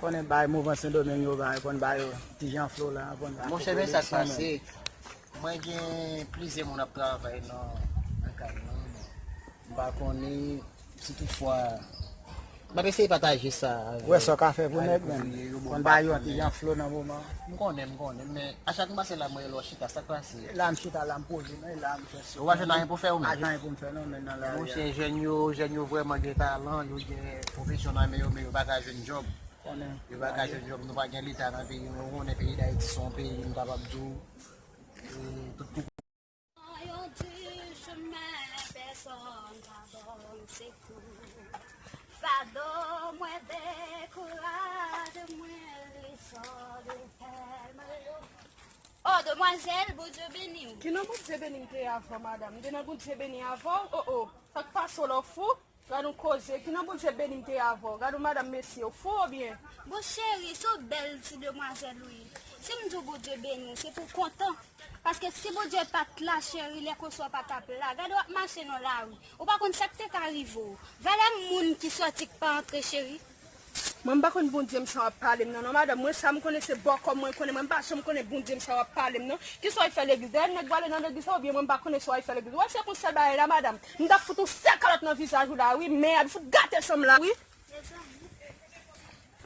Konnen bay movan sendomeng yo bay konn ba yo ti jan flo la konn ba monchè men sak pase mwen gen plizyè moun ap travay nan nan kay lan m pa konnen si tout fwa m ap eseye pataje sa avèk wè sa w ka fè pou nèg menm konn ba yo ti jan flo nan moman m konnen m konnen men a chak m pase la m wè lè w chita sak pase la m chita la m poze men la m. Ou pa jwenn anyen pou fè ou menm? Monchè jèn yo, jèn yo vrèman gen talan, yo gen pwofesyon nan men yo men yo pa ka jwenn djòb. Yo pa ka jwenn djòb, nou pa gen leta nan peyi nou, ou konnen peyi Dayiti se yon peyi m kapab di w tout kou Oh demwazèl bondye beniw. Ki nan bondye beni m te ye avan madam m te nan bondye beni avan w oh oh sak pase w la w fou gad yon koze ki nan bondye beni m te ye avan w gad yon madam mesye w fou ou byen. Bon cheri se w bèl ti demwazèl ou ye si m di w bondye beni w se pou w kontan paske si bondye pat la cheri lè konsa w pa tap la gade w ap mache nan lari ou pa konn sak te ka rive w valè moun ki sòti k pa antre cheri. Mwen m pa konn Bondye m sa wap pale m nan non madanm mwen sam konnen se bòkò mwen konnen mwen m pa janm konnen Bondye m sa wap pale m nan ki sa wap fè legliz dayè nèg pwale nan legliz la oubyen mwen m pa konnen sa wap fè legliz wè se pou sèl bagay la madanm m tap fout yon sèl kalòt nan vizaj ou la wi men yap fout gate sanm la wi.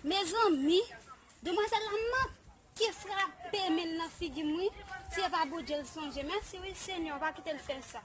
Mezanmi demwazèl la manke frape menl nan figim wi si epa Bondye l sonjem mèsi wi senyè ou pa kitel fè sa.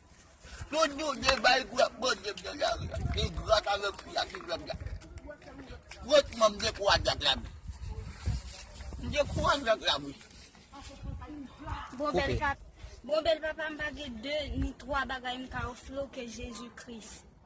Tout bondye bay gwòt bondye m nan lari a e gwòt avèm fi a ki vlog la franchman m gen pou a vlog la wi m gen pou a vlog la wi. Bon bel papa m pa gen 2 ni 3 bagay m ka ofri w ke Jezi Kris.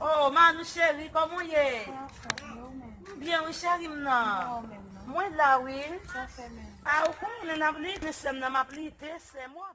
Oh, Manu chéri, koman w ye? M byen wi cheri m nan. Mwen la wi. A ou konnen nan li men sèm nan map li te sèm wap.